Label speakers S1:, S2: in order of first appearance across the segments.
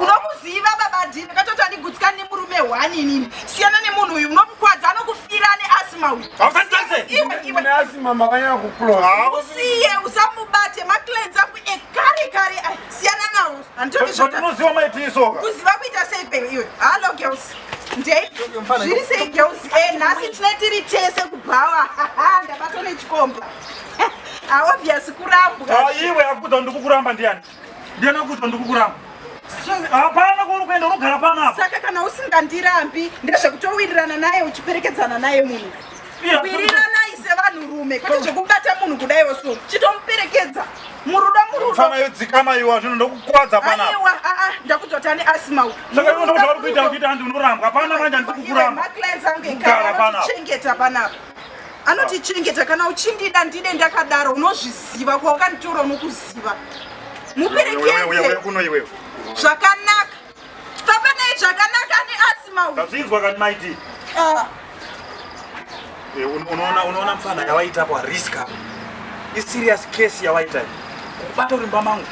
S1: unomuziva baba dini katoti andigutsikana nemurume hwani inini siyana nemunhu uyu unomukwadza anokufira ane asima uyu asima makanyanya kukuloa usiye usamubate maclens angu ekare kare ai siyana nawo anditotinoziva maitiiso kuziva kuita sei pe iwe hallo girls ndei zviri sei girls e nhasi tine tiri tese kubhawa ndabatwa nechikomba aobvious kurambwa iwe akuudza kuti ndikukuramba ndiani Ndiyana kuto ndikukuramba. Hapana kwauri kuenda unogara pano apa. Saka kana usingandirambi ndezvekutowirirana naye uchiperekedzana naye munhu. Wiriranai sevanhurume kwete zvekubata munhu kudai oso chitomuperekedza murudo murudo. Fana yodzikama iwa zvino ndokukwadza pana. Aiwa a a ndakudzwa tani asima u. Saka iwe ndozvauri kuita kuita ndinorambwa. Hapana manje ndikukuramba. Kugara pana. Chengeta pana. anotichengeta kana uchindida ndide ndakadaro unozviziva kwawakanditora unokuziva muperekedze zvakanaka famba naye zvakanaka ani asi mauzvinzwa kani maiti ah. eh, unoona mfana yawaita kwa riska iserious case yawaita kubata urimba mangu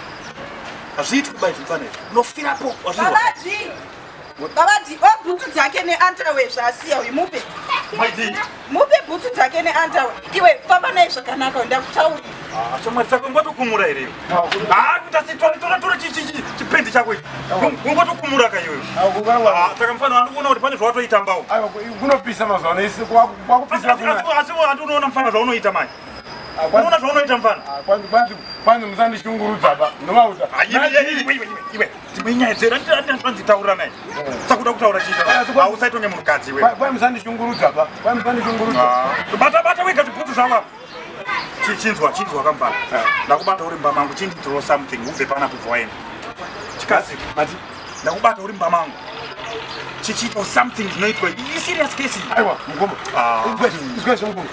S1: hazviiti kuba izvi mfana izvi unofirapo wazvinzwa Babati, oh, bhutsu dzake neantawe zvaasiya uyu mupe. Mupe bhutsu dzake neantawe. Iwe famba naye zvakanaka ndakutaurira. Ah, shamwari dzako ngotokumura here? Ah, kuita sitwari tora tora chipendi chako ichi. Ngotokumura ka iwe. Ah, saka mfana wanoona kuti pane zvawatoitambawo. Aiwa, kunopisa mazuva ano isi kwakupisa kuna. Asi handi unoona mfana zvaunoita manje. Ah, unoona zvaunoita mfana? Ah, kwanzi kwanzi kwanzi musandishungurudza ba. Ndovauza. Ah, iwe iwe iwe. dzimwe nyaya dzera ndinzvanzi taura naye sakuda kutaura chiitausaitone munhukadzi wemusandishungurudza ba musandishungurudza bata bata wega zvibhutsu zvava chinzwa chinzwa kambana ndakubata uri mbama angu chindi throw something ubve pana bva waenda chikazi mati ndakubata uri mbama angu chichiitawo something zvinoitwa iserious case aiwa mugombo izwezve mugombo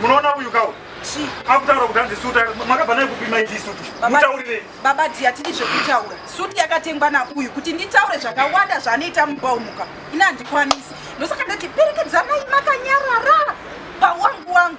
S1: munoona uyu kau akutaura kuti hanzi suti makabva nayo kupima ichi suti mutaurire baba dhi hatidi zvekutaura suti yakatengwa nauyu kuti nditaure zvakawanda zvaanoita mubaumuka ini handikwanisi ndosaka ndati perekedzanai makanyarara pawangu wangu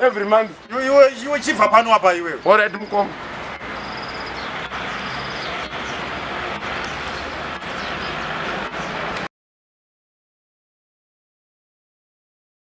S1: every month iwe iwe chibva pano apa iwe all right mukoma